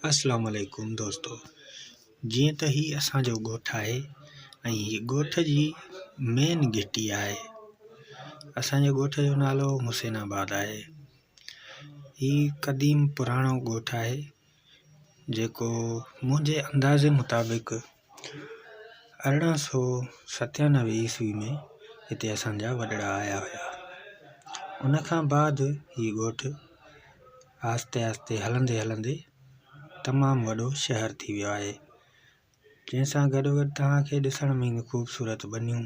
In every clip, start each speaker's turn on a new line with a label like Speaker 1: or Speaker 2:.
Speaker 1: اسلام عليڪم دوستو جيئن ته هي اسان جو ڳوٺ آهي ۽ هي ڳوٺ جي مين گهٽي آهي اسان جي ڳوٺ جو نالو حسين آباد آهي هي قديم پراڻو ڳوٺ آهي جيڪو منهنجي اندازي مطابق ارڙهن سؤ ستيانوي عيسوي ۾ هتي اسان جا وڏڙا آيا هيا ان کان بعد هي ڳوٺ آهستي آهستي هلندي هلندي تمامُ وڏو شهر ٿي ويو آهي جنهن سان گڏوگڏ توهان کي ڏسڻ ۾ خوبصورت ٻنيون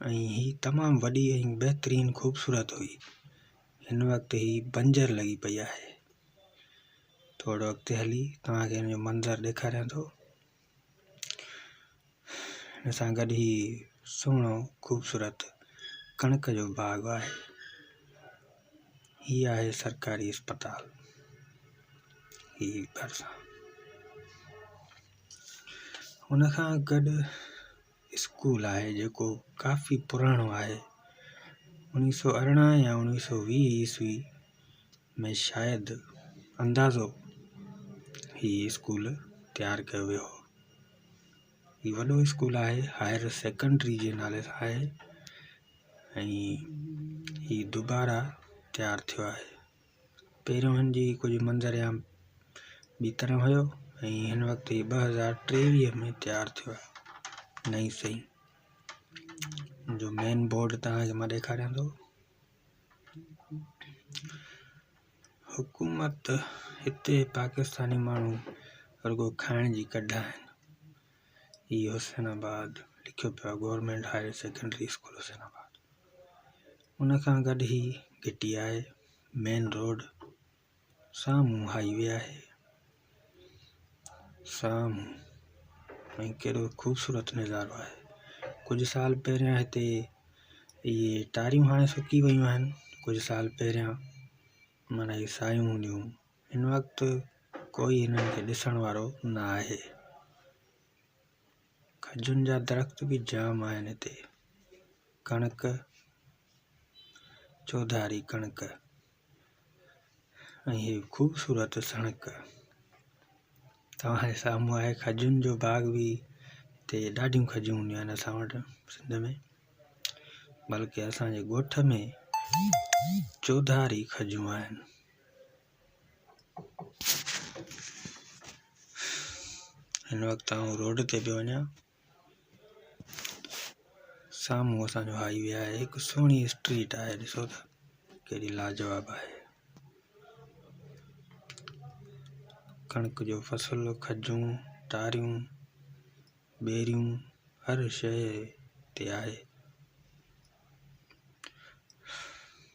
Speaker 1: ۽ هي تمام وڏي ۽ بهترين خوبصورت هئي. هن وقت هي بنجر لڳي پئي آهي. ٿورو اڳتي هلي توهان کي هن جو منظر ڏيکاريان ٿو. هن سان گڏ هي سهڻو خوبصورت ڪڻڪ جو باغ آهي. هي آهي سرڪاري اسپتال. هي ڀرسان ان کان گڏ اسڪول آهي جيڪو ڪافي پراڻو آهي اوڻيھ سؤ ارڙهن يا اوڻيھ سؤ ويھ عيسوي ۾ شايد اندازو هي اسڪول تيار ڪيو ويو هو هي وڏو اسڪول آهي هائير سيڪنڊري جي نالي سان آهي ۽ هي دوبارا تيار ٿيو آهي پهريون هن جي ڪجهه منظرعام ٻي طرح هيو ۽ هن وقت هي ٻه هزار ٽيويهه ۾ تيار ٿيو آهي نئين سئي جو مين بورڊ توهانکي مان ڏيکاريان ٿو حڪومت هتي پاڪستاني ماڻهو رڳو کائڻ جي ڪڍا آهن اي حسين آباد لکيو پيو آهي government higher secondary school Hussainabad ان کان گڏ هي گهٽي آهي مين روڊ سامهون هائي وي آهي سامهون ۽ ڪهڙو خوبصورت نظارو آهي ڪجهه سال پهريان هتي اهي ٽاريون هاڻي سڪي ويون آهن ڪجهه سال پهريان معنيٰ اهي سايون هونديون هن وقت ڪوئي هنن کي ڏسڻ وارو نه آهي. کجين جا درخت به جام آهن هتي. ڪڻڪ، چوڌاري ڪڻڪ ۽ هي خوبصورت سڻڪ. توهان جي سامهون آهي کجين جو باغ به هتي ڏاڍيون کجيون هونديون آهن اسان وٽ سنڌ ۾ بلڪه اسان جي ڳوٺ ۾ چوڌاري کجيون آهن. هن وقت آئون روڊ تي پيو وڃان سامهون اسان جو هائي وي آهي هڪ سهڻي اسٽريٽ آهي ڏسو ته ڪهڙي لاجواب آهي ڪڻڪ جو فصل کجون ٽاريون ٻيريون هر شيء تي آهي